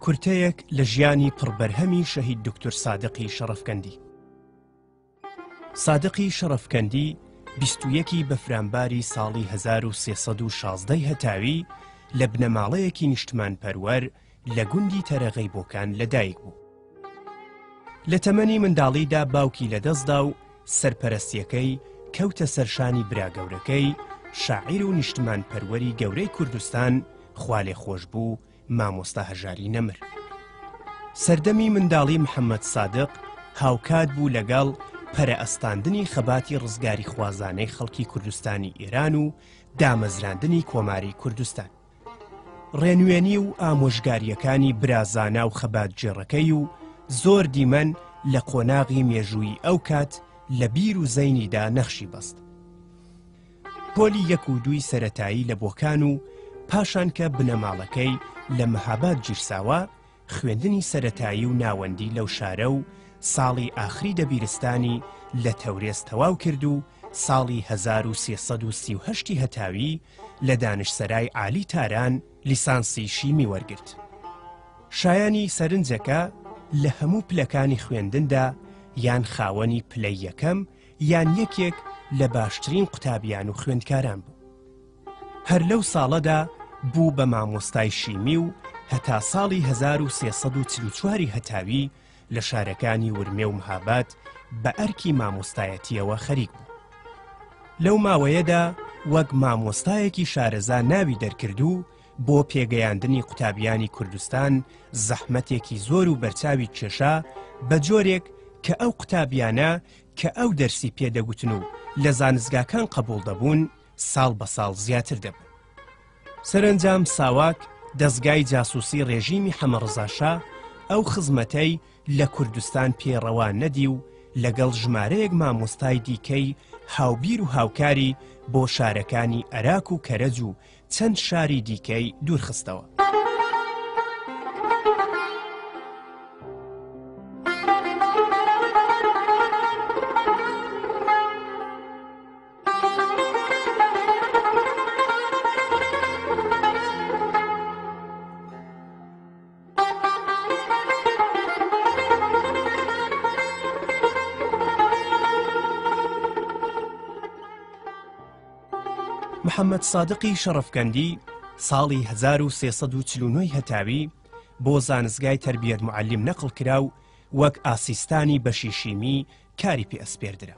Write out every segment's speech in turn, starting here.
کورتەیەک لە ژیانی پڕ بەرهەمی شەهید دوکتور سادقی شەڕەفکەندی سادقی شەڕەفکەندی بیست و یەکی بەفرانباری ساڵی 1316 ی هەتاوی لە بنەماڵەیەکی نیشتمان پەروەر لە گوندی تەرەغەی بۆکان لەدایک بوو لە تەمەنی منداڵیدا باوکی لەدەستدا و سەرپەرەستییەکەی کەوتە سەر شانی براگەورەکەی، شاعیر و نیشتمانپەروەری گەورەی کوردستان، خوالێخۆشبوو، مامۆستا هەژاری نەمر. سەردەمی منداڵی محەممەد سادق هاوکات بوو لەگەڵ پەرەئەستاندنی خەباتی ڕزگاریخوازانەی خەڵکی کوردستانی ئێران و دامەزراندنی کۆماری کوردستان. ڕێنوێنی و ئامۆژگارییەکانی برا زانا و خەباتگێڕەکەی و زۆر دیمەن لە قۆناغی مێژوویی ئەو کات لە بیر و زەینیدا نەخشی بەست پۆلی یەک و دووی سەتایی لە بۆکان و پاشان کە بنەماڵەکەی لە مەهاباد گیرساوە خوێندنی سەرەتایی و ناوەندی لەو شارە و ساڵی ئاخری دەبیرستانی لە تەورێز تەواو کرد و ساڵی هەزار و سێ سەد و سی و هەشت ی هەتاوی لە دانشسەرای عالی تاران لیسانسی شیمی وەرگرت. شایانی سەرنجە کە لە هەموو پلەکانی خوێندندا یان خاوەنی پلەی یەکەم یان یەکێک لە باشترین قوتابیان و خوێندکاران بوو. هەر لەو ساڵەدا بوو بە مامۆستای شیمی و هەتا ساڵی هەزار و سێ سەد و چل و چواری هەتاوی لە شارەکانی ورمێ و مهاباد بە ئەرکی مامۆستایەتییەوە خەریک بوو. لەو ماوەیەدا وەک مامۆستایەکی شارەزا ناوی دەرکرد و بۆ پێگەیاندنی قوتابیانی کوردستان زەحمەتێکی زۆر و بەرچاوی کێشا بە جۆرێک کە ئەو قوتابیانە کە ئەو دەرسی پێدەگوتن و لە زانستگاکان قبوڵ دەبوون، ساڵ بە ساڵ زیاتر دەبوو. سەرەنجام ساواک دەزگای جاسوسی ڕێژیمی حەمەڕزاشا ئەو خزمەتەی لە کوردستان پێ ڕەوا نەدی و لەگەڵ ژمارەیەک مامۆستای دیکەی هاوبیر و هاوکاری بۆ شارەکانی ئەراک و کەرەج و چەند شاری دیکەی دوورخستەوە. محەممەد سادقی شەڕەفکەندی ساڵی 1340 هەتاوی بۆ زانستگای تربیەت معلیم نەقل کرا و وەک ئاسیستانی بەشی شیمی کاری پێ ئەسپێردرا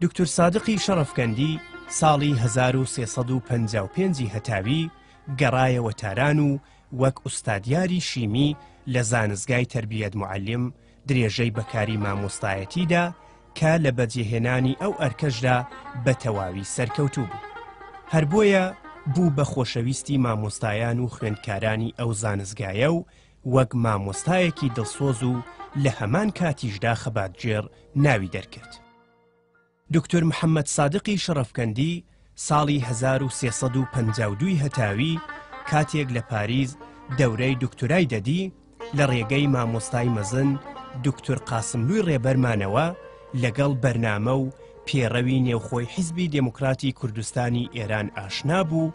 دوکتور سادقی شەڕەفکەندی ساڵی هەزار و سێ سەد و پەنجا و پێنج ی هەتاوی گەڕایەوە تاران و وەک ئوستادیاری شیمی لە زانستگای تەربیەت موعەلیم درێژەی بە کاری مامۆستایەتی دا کە لە بەجێهێنانی ئەو ئەرکەشدا بە تەواوی سەرکەوتوو بوو. هەر بۆیە بوو بە خۆشەویستی مامۆستایان و خوێندکارانی ئەو زانستگایە و وەک مامۆستایەکی دڵسۆز و لە هەمان کاتیشدا خەباتگێڕ ناوی دەرکرد. دوکتور محەممەد سادقی شەڕەفکەندی ساڵی هەزار و سێ سەد و پەنجا و دووی هەتاوی کاتێک لە پاریس دەورەی دوکتورای دەدی، لە ڕێگەی مامۆستای مەزن دوکتور قاسملووی ڕێبەرمانەوە لەگەڵ بەرنامە و پێڕەوی نێوخۆی حیزبی دێموکراتی کوردستانی ئێران ئاشنا بوو،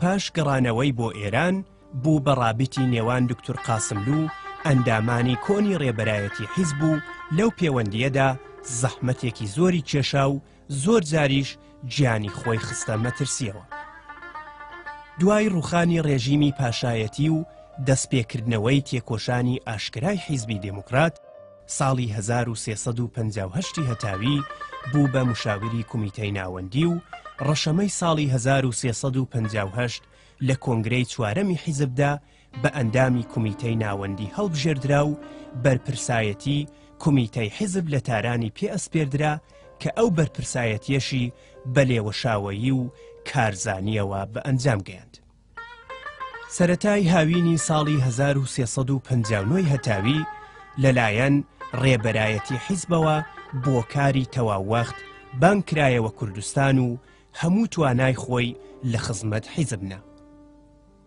پاش گەڕانەوەی بۆ ئێران بوو بە ڕابیتی نێوان دکتور قاسملو و ئەندامانی کۆنی ڕێبەرایەتی حیزب و لەو پێوەندیەدا زەحمەتێکی زۆری کێشا و زۆر جاریش گیانی خۆی خستە مەترسیەوە. دوای ڕوخانی ڕێژیمی پاشایەتی و دەستپێکردنەوەی تێکۆشانی ئاشکرای حیزبی دێموکرات، ساڵی 1358 هەتاوی بوو بە مشاوری کومیتەی ناوەندی و ڕەشەمەی ساڵی 1358 لە کۆنگرەی چوارەمی حیزبدا بە ئەندامی کومیتەی ناوەندی هەڵبژێردرا و بەرپرسایەتی کومیتەی حیزب لە تارانی پێ ئەسپێردرا کە ئەو بەرپرسایەتیەشی بە لێوەشاوەیی و کارزانیەوە بە ئەنجام گەیاند. سەرەتای هاوینی ساڵی 1359 ی هەتاوی لە لایەن ڕێبەرایەتی حیزبەوە بۆ کاری تەواو وەخت بانگ کرایەوە کوردستان و هەموو توانای خۆی لە خزمەت حیزب نا.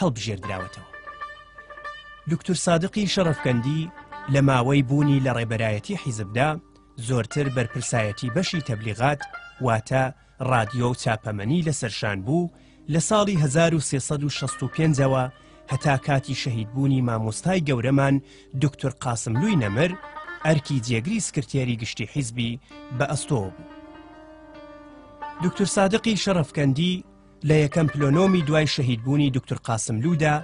هەڵبژێردراوەتەوە. دوکتور سادقی شەڕەفکەندی لە ماوەی بوونی لە ڕێبەرایەتی حیزبدا زۆرتر بەرپرسایەتی بەشی تەبلیغات واتە ڕادیۆ و چاپەمەنی لە سەرشان بوو لە ساڵی 1365ەوە هەتا کاتی شەهیدبوونی مامۆستای گەورەمان دوکتور قاسملووی نەمر ئەرکی جێگری سکرتێری گشتی حیزبی بە ئەستۆ بوو. دوکتور سادقی شەڕەفکەندی لە یەکەم پلۆنۆمی دوای شەهیدبوونی دکتر قاسملوودا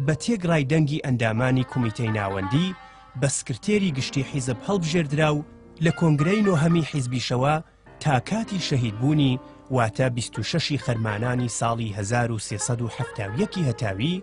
بە تێگڕای دەنگی ئەندامانی کومیتەی ناوەندی بە سکرتێری گشتی حیزب هەڵبژێردرا و لە کۆنگرەی نۆهەمی حیزبیشەوە تا کاتی شەهیدبوونی واتە 26 خەرمانانی ساڵی 1370 هەتاوی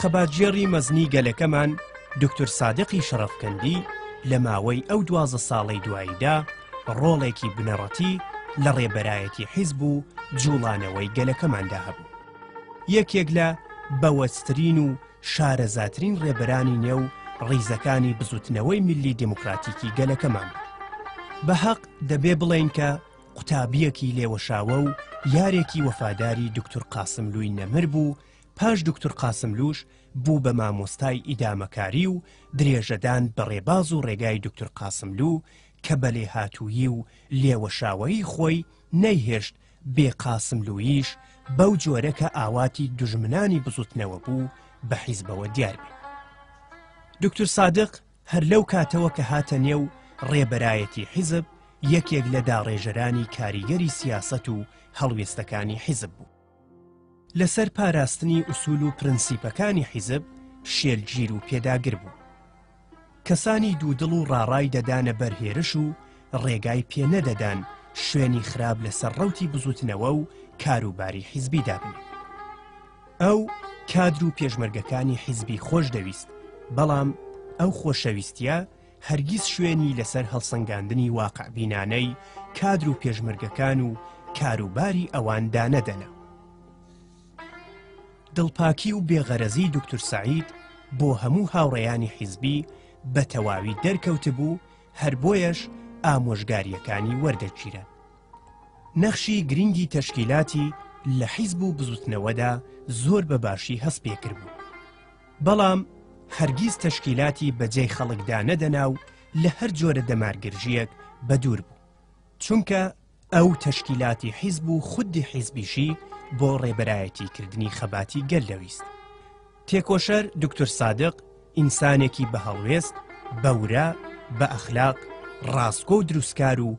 خەباتگێڕی مەزنی گەلەکەمان دوکتور سادقی شەڕەفکەندی لە ماوەی ئەو دوازە ساڵەی دواییدا ڕۆڵێکی بنەڕەتی لە ڕێبەرایەتی حیزب و جوڵانەوەی گەلەکەماندا هەبوو یەکێک لە بەوەسترین و شارەزاترین ڕێبەرانی نێو ڕیزەکانی بزوتنەوەی میلی دموکراتیکی گەلەکەمان بە حەق دەبێ بڵێن کە قوتابیەکی لێوەشاوە و یارێکی وەفاداری دکتور قاسم لووی نەمر بوو پاش دوکتور قاسملووش بوو بە مامۆستای ئیدامەکاری و درێژەدان بە ڕێباز و ڕێگای دوکتور قاسملوو کە بە لێهاتوویی و لێوەشاوەیی خۆی نەیهێشت بێ قاسملووییش بەو جۆرە کە ئاواتی دوژمنانی بزوتنەوە بوو بە حیزبەوە دیار بێ. دوکتور سادق هەر لەو کاتەوە کە هاتە نێو ڕێبەرایەتی حیزب یەکێک لە داڕێژەرانی کاریگەری سیاسەت و هەڵوێستەکانی حیزب بوو. لەسەر پاراستنی ئوسول و پرنسیپەکانی حیزب شێلگیر و پێداگر بوو کەسانی دوودڵ و ڕاڕای دەدانە بەر هێرش و ڕێگای پێ نەدەدان شوێنی خراپ لەسەر ڕوتی بزوتنەوە و کاروباری حیزبی دابن ئەو کادر و پێشمەرگەکانی حیزبی خۆش دەویست بەڵام ئەو خۆشەویستە هەرگیز شوێنی لەسەر هەڵسەنگاندنی واقعبینانەی کادر و پێشمەرگەکان و کاروباری ئەوان دانەدەنا. دڵپاکی و بێغەرەزی دوکتور سەعید بۆ هەموو هاوڕێیانی حیزبی بە تەواوی دەرکەوتبوو هەر بۆیەش ئامۆژگارییەکانی وەردەگیرا. نەخشی گرنگی تەشکیلاتی لە حیزب و بزوتنەوەدا زۆر بە باشی هەست پێکربوو. بەڵام هەرگیز تەشکیلاتی بەجێی خەڵکدا نەدەنا و لە هەر جۆرە دەمارگرژیەک بەدوور بوو چونکە ئەو تەشکیلاتی حیزب و خودی حیزبیشی بۆ ڕێبەرایەتی کردنی خەباتی گەل دەویست تێکۆشەر دکتور سادق ئینسانێکی بە هەڵوێست بەورە بە ئەخلاق ڕاستگۆ و دروستکار و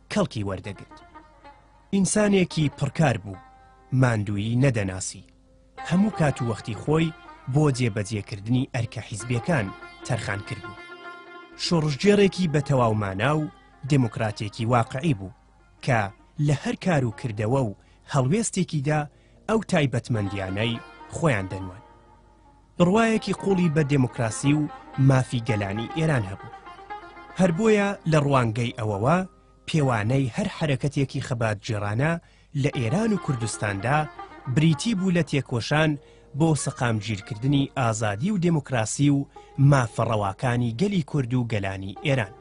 کەڵکی وەردەگرت. ئینسانێکی پڕکار بوو، ماندوویی نەدەناسی، هەموو کات و وەختی خۆی بۆ جێبەجێکردنی ئەرکە حیزبییەکان تەرخان کردبوو. شۆڕشگێڕێکی بە تەواو مانا و دێموکراتێکی واقعی بوو، کە لە هەر کار و کردەوە و هەڵوێستێکیدا ئەو تایبەتمەندییانەی خۆیان دەنوان. بڕوایەکی قوڵی بە دێموکراسی و مافی گەلانی ئێران هەبوو. هەر بۆیە لە ڕوانگەی ئەوەوە پێوانەی هەر حەرەکەتێکی خەباتگێڕانە لە ئێران و کوردستاندا بریتی بوو لە تێکۆشان بۆ سەقامگیرکردنی ئازادی و دێموکراسی و مافە ڕەواکانی گەلی کورد و گەلانی ئێران.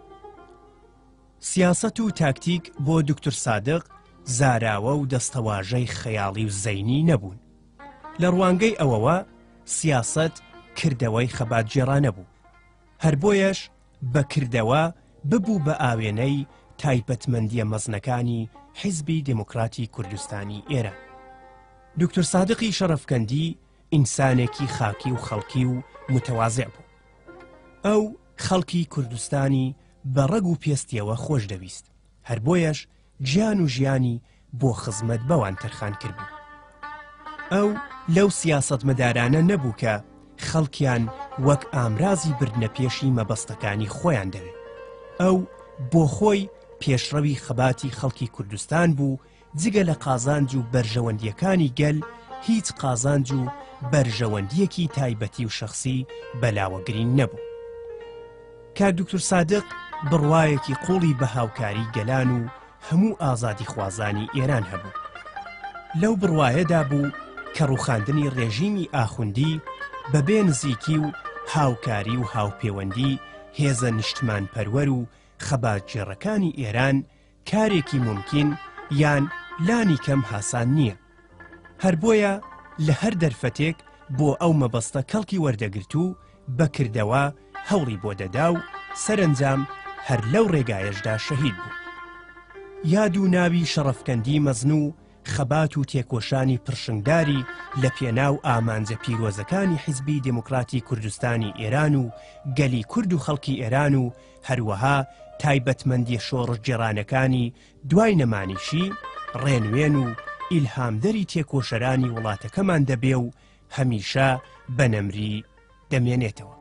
سیاسەت و تاکتیک بۆ دوکتور سادق زاراوە و دەستەواژەی خەیاڵی و زەینی نەبوون. لە ڕوانگەی ئەوەوە سیاسەت کردەوەی خەباتگێڕانە بوو، هەر بۆیەش بە کردەوە ببوو بە ئاوێنەی تایبەتمەندییە مەزنەکانی حیزبی دێموکراتی کوردستانی ئێران. دوکتور سادقی شەڕەفکەندی ئینسانێکی خاکی و خەڵکی و متەوازێع بوو. ئەو خەڵکی کوردستانی بە ڕەگ و پێستیەوە خۆش دەویست، هەر بۆیەش گیان و ژیانی بۆ خزمەت بەوان تەرخان کردبوو. ئەو لەو سیاسەتمەدارانە نەبوو کە خەڵکیان وەک ئامرازی بردنە پێشی مەبەستەکانی خۆیان دەوێت. ئەو بۆ خۆی پێشڕەوی خەباتی خەڵکی کوردستان بوو، جگە لە قازانج و بەرژەوەندییەکانی گەل هیچ قازانج و بەرژەوەندییەکی تایبەتی و شەخسی بەلاوە گرینگ نەبوو. کاک دوکتور سادق بڕوایەکی قوڵی بە هاوکاری گەلان و هەموو ئازادی خوازانی ئێران هەبوو. لەو بڕوایەدا بوو کە ڕوخاندنی ڕێژیمی ئاخوندی بەبێ نزیکی و هاوکاری و هاوپێوەندی هێزە نیشتمان پەروەر و خەباتگێڕەکانی ئێران کارێکی مومکین یان لانی کەم هاسان نییە. هەر بۆیە لە هەر دەرفەتێک بۆ ئەو مەبەستە کەڵکی وەردەگرت و بە کردەوە هەوڵی بۆ دەدا و سەرەنجام هەر لەو ڕێگایەشدا شەهید بوو. یاد و ناوی شەڕەفکەندی مەزن و خەبات و تێکۆشانی پڕشنگداری لە پێناو ئامانجە پیرۆزەکانی حیزبی دێموکڕاتی کوردستانی ئێران و گەلی کورد و خەڵکی ئێران و هەروەها تایبەتمەندیە شۆڕشگێڕانەکانی دوای نەمانیشی ڕێنوێن و ئیلهامدەری تێکۆشەرانی وڵاتەکەمان دەبێ و هەمیشە بە نەمری دەمێنێتەوە.